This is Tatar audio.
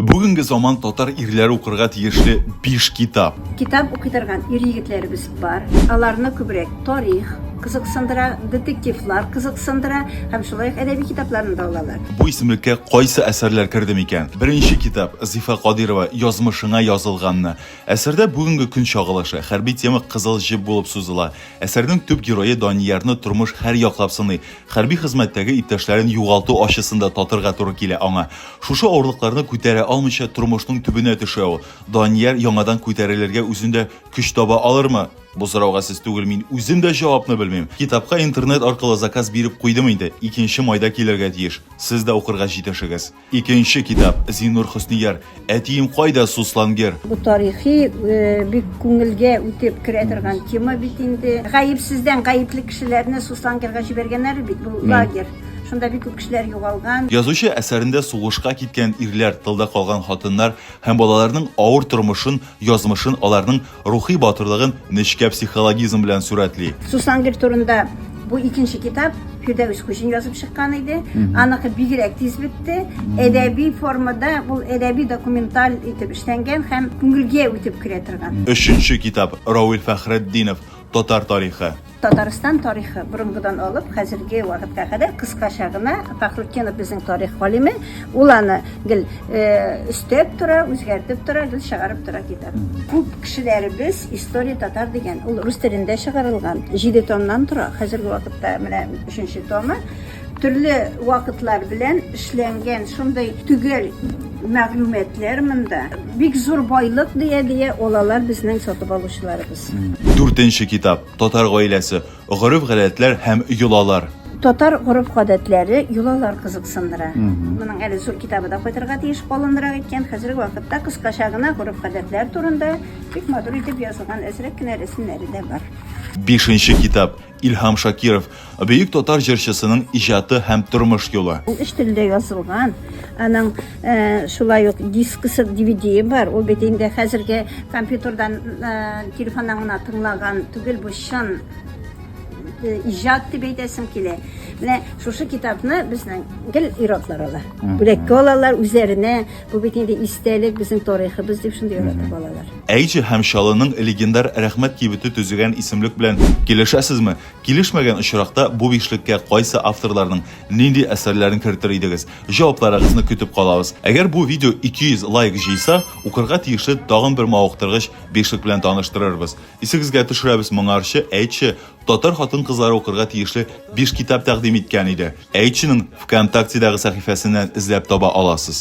Бүгенге заман татар ирләре укырга тиешле биш китап. Китап укый торган ир-егетләребез бар. Аларны күбрәк тарих кызыксындыра, детективлар кызыксындыра һәм шулай ук әдәби китапларны да алалар. Бу исемлеккә кайсы әсәрләр керде микән? Беренче китап Зифа Кадирова Язмышыңа язылганны. Әсәрдә бүгенге көн чагылышы, хәрби тема кызыл җеп булып сузыла. Әсәрнең төп герое Даниярны тормыш һәр яклап сыный. Хәрби хезмәттәге иптәшләрен югалту ачысын да татырга туры килә аңа. Шушы авырлыкларны күтәрә алмыйча тормышның төбенә төшә ул. Данияр яңадан күтәрелергә үзендә көч таба алырмы? Бу сорауга сез түгел, мин үзем дә җавапны белмим. Китапка интернет аркылы заказ биреп куйдым инде, икенче майда килергә тиеш. Сез дә укырга җитешегез. Икенче китап, Зиннур Хөснияр, Әтием кайда, Суслангер? Бу тарихи бик күңелгә үтеп керә торган тема бит инде. Гаепсездән гаепле кешеләрне Суслангерга җибәргәннәр бит, бу лагерь. Шунда бик күп кешеләр югалган. Язучы әсәрендә сугышка киткән ирләр, тылда калган хатыннар һәм балаларның авыр тормышын, язмышын, аларның рухи батырлыгын нечкә психологизм белән сурәтли. Сусангер турында бу икенче китап Фирдәвес Хуҗин язып чыккан иде. Аныкы бигрәк тиз бетте. Әдәби формада ул әдәби документаль итеп эшләнгән һәм күңелгә үтеп керә торган. Өченче китап Равил Фәхретдинов Татар тарихы. Татарстан тарихы борынгыдан алып хәзерге вакытка кадәр кыскача гына Фахрутдинов безнең тарих галиме, ул аны гел өстәп тора, үзгәртеп тора, гел чыгарып тора китап. Күп кешеләребез История татар дигән, ул рус телендә чыгарылган, җиде томнан тора, хәзерге вакытта менә өченче томы. Төрле вакытлар белән эшләнгән шундый төгәл мәгълүматлар монда. Бик зур байлык дия-дия ул алар безнең сатып алучыларыбыз. Дүртенче китап, Татар гаиләсе, гореф-гадәтләр һәм йолалар. Татар гореф-гадәтләре, йолалар кызыксындыра. Моның әле зур китабы да кайтырга тиеш, калынрак икән. Хәзерге вакытта кыскача гына гореф-гадәтләр турында бик матур итеп язылган әзрәк кенә рәсемнәре дә бар. Бишенче китап, Илһам Шакиров, бөек татар җырчысының иҗаты һәм тормыш юлы. Ул өч телдә язылган. Аның э, шулай ук дискысы, DVD бар. Ул бит инде хәзерге компьютердан, э, телефоннан гына тыңлаган түгел, бу чын э, иҗат дип әйтәсем килә. Менә шушы китапны безнең гел ир-атлар ала. Бүләккә алалар үзләренә Бу бит инде истәлек, безнең тарихыбыз, дип шундый ярата балалар. Әйҗә һәм Чаллының легендар Рәхмәт кибете төзегән исемлек белән килешәсезме? Килешмәгән очракта, бу бишлеккә кайсы авторларның нинди әсәрләрен кертер идегез? Җавапларыгызны көтеп калабыз. Әгәр бу видео 200 лайк җыйса, укырга тиешле тагын бер мавыктыргыч бишлек белән таныштырырбыз. Исегезгә төшерәбез, моңарчы Әйче татар хатын-кызлары укырга тиешле биш китап тәкъдим иткән иде. Әйченең ВКонтактедагы сәхифәсеннән эзләп таба аласыз.